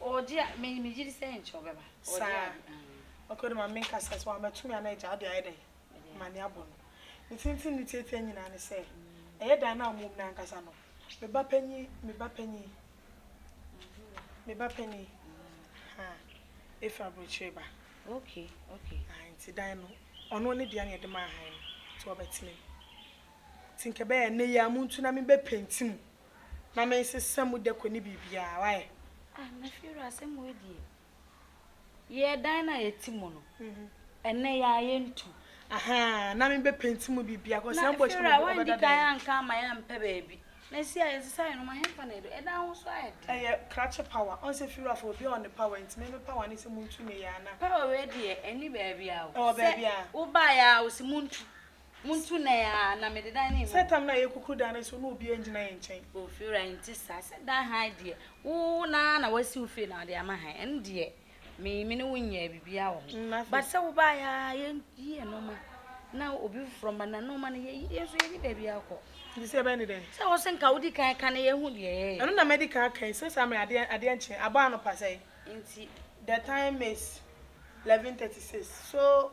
Ɔɔgye a me me gyidi sɛ nkyɛ ɔbɛba ɔɔgye Saa ade aah. ok ɔde ma menkasa sɛ wamatumi a na agya ɔde ayɛ dɛn Mede ama ne abɔ no ne tenten ne tiatia nyinaa ne sɛ ɛyɛ dan no a ɔmo wɔ mu no ankasa no me ba panyin me ba panyin me ba panyin haa efi abrokyire ba ok ok. ae nti dan no ɔno ne dea na yɛde maa han no nti ɔbɛtena mu nti nka ɛbɛyɛ ɛnɛ yi a montu na me bɛ penti mu na me nsesa mu dako ne biribiara wayɛ. Ah me fie wura asɛm wei deɛ yɛ dan no a yɛte mu no ɛnɛ yɛ a yɛntu. Ahaa na me bɛ penti mu biribiara kɔ sɛ mbɔ kyerɛ mu ɔbɛda dan. Na anka ama yɛ ampɛ baabi na ɛsi a yɛnsesa yɛ no ma hemfa na ɛdo ɛdan ho so ayɛ den. Ɛyɛ krakye power ɔn sɛ fie wura fo obi a ɔne power nti me me power ne sɛ montu ne yɛ a na. Power wei deɛ ɛni baabiara o sɛ wo baa yɛ a ɔsi montu. Montu nan aa na mede dan no mmu. Sɛ tam no ayɛ kuku dan no so na obiara ngyina yɛn nkyɛn. Oh Fiora ɛnte saa, sɛ dan hann deɛ wo no ara na wasi wo fie na wode ama hann ɛno deɛ me me ne wo nyɛɛ biribiara wɔ ho. But sɛ wo baeɛ aa yɛnyi yɛn nnoɔma na obi foforɔ mma na nnoɔma no yɛyi yɛn nso yɛnni baabi akɔ. Nti sɛ ɛbɛyɛ ne dɛn? Sɛ wo se nka wodi kan ka na yɛahu deɛ yɛyɛ. Ɛno na mɛdi kan aka yi, sɛ saa mmerɛ adeɛ adeɛ nkye, abɔ anɔpa sɛn? Nti. The time is 11:36 so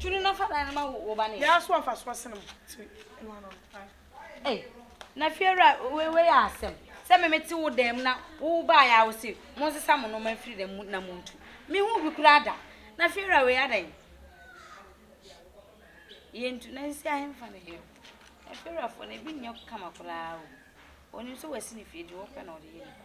Tunu na fa dan no ma wo ba ne. Yɛ aso afa so asene mo ti ɛnu ano no. Ei na fiewura wei wei yɛ asɛm sɛ me mete wo dan mu na wo baa yɛ a wo se mo nsesa mo noma mfiri dan mu na mo ntu me ho bi koraa da na fiewura wei adan yɛ ntu na sisi ahemfa ne yɛ na fiewurafoɔ na ebi nyɛ kama koraa o onim sɛ wasi ne fie deɛ ɔpɛ na ɔde yɛ nipa.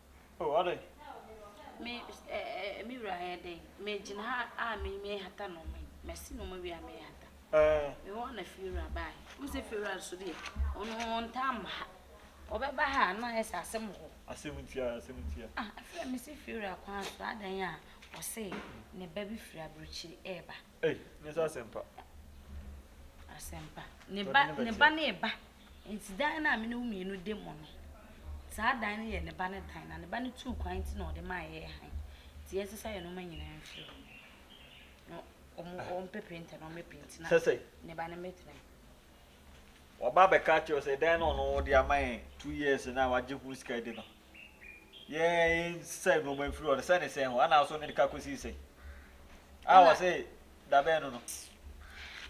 Oh, ade. Me, eh, me wura ayɛ dɛn? Megyina ha a me mehata nneɛma yi. Masi nneɛma wie a mehata. Eh. Me hɔ na fiewura bae. Wo sɛ fiewura nso deɛ, ɔno ɔntaa mma ha. Ɔbɛba ha a na ayɛ sɛ asɛm wɔ hɔ. Asɛm ntia, asɛm ntia. Ah, afei a mesi fiewura kwan so adan a, ɔse ne ba bi firi aburokyiri ɛreba. Ei, nyɛ sɛ asɛmpa. Asɛmpa. Ne ba, ne ba ne ba. Nti dan no a me ne wo mmienu de mo no, saa dan no yɛ ne ba ne dan, na ne ba no tuu kwan nti na ɔde maa yɛɛ hann. Nti yɛn sesa yɛn nnoɔma nyinaa mfiri hɔ. Na ɔmo, ah. ɔmo pɛ penta na ɔmo penti na. Sɛsɛ. Ne ba no mɛtena mu. Waba abɛka akyerɛ sɛ dan no ɔno ɔde ama yɛn two years na wagye ho sika di no. yɛsɛ nnoɔma mfiri hɔ no sɛ ne sɛn hɔ anaa so ne de ka kɔsii sɛn a wɔ se dabɛn no no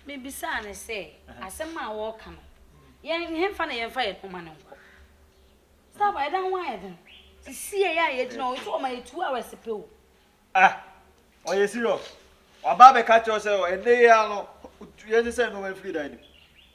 mebisaa no sɛ asɛm a wɔreka no yɛn hemfa na yɛmfa yɛn ho ma no nkɔ saa ba ɛda ho ayɛ den sisiɛ yɛ a yɛgyina hɔ nso ɔma yɛ two hours pɛ o ah ɔyɛ serious waba bɛka kyerɛ sɛ ɛnɛ yɛ ano yɛsɛ sɛ nnoɔma mfiri dan no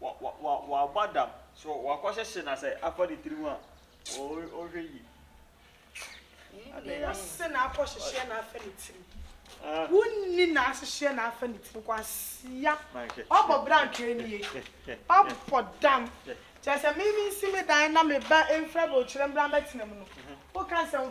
W'aba dam so w'akɔ hyehye na sɛ afa ne tiri ho a o hwɛ yie. Nni no se na akɔ hyehyeɛ na afa ne tiri wo nni na ahyehyeɛ na afa ne tiri kwasia w'abɔ bra ntwɛɛ nie w'abɔ dam kyɛɛ sɛ me me nsi me dan na me ba mfra bɛ okyerɛ mbra mbɛ tena mu no wo ka nsɛm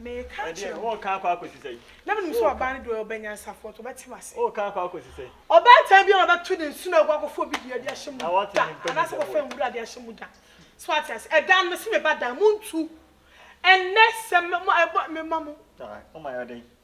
Meka Ɛdeɛ kyerɛ wo. wɔn kan akɔ akɔsi sɛn? Na menim sɛ ɔbaa no deɛ ɔyɛ ɔbanyansafoɔ nti ɔbɛte m'ase. Wɔn kan akɔ akɔsi sɛn? Ɔbaatan biara a ɔbɛto ne nsono agu akɔfa obi dua de ahyɛ mu Na wate da ne mpɛ mu anaasɛ nsɛm akɔfa wɔ. nwura de ahyɛ mu da. So wate ase? Ɛda no mese me ba dan, montu. Ɛnnɛ sɛ me mo ɛbɔ mema mo. Alright, moma yɛ ɔdɛn?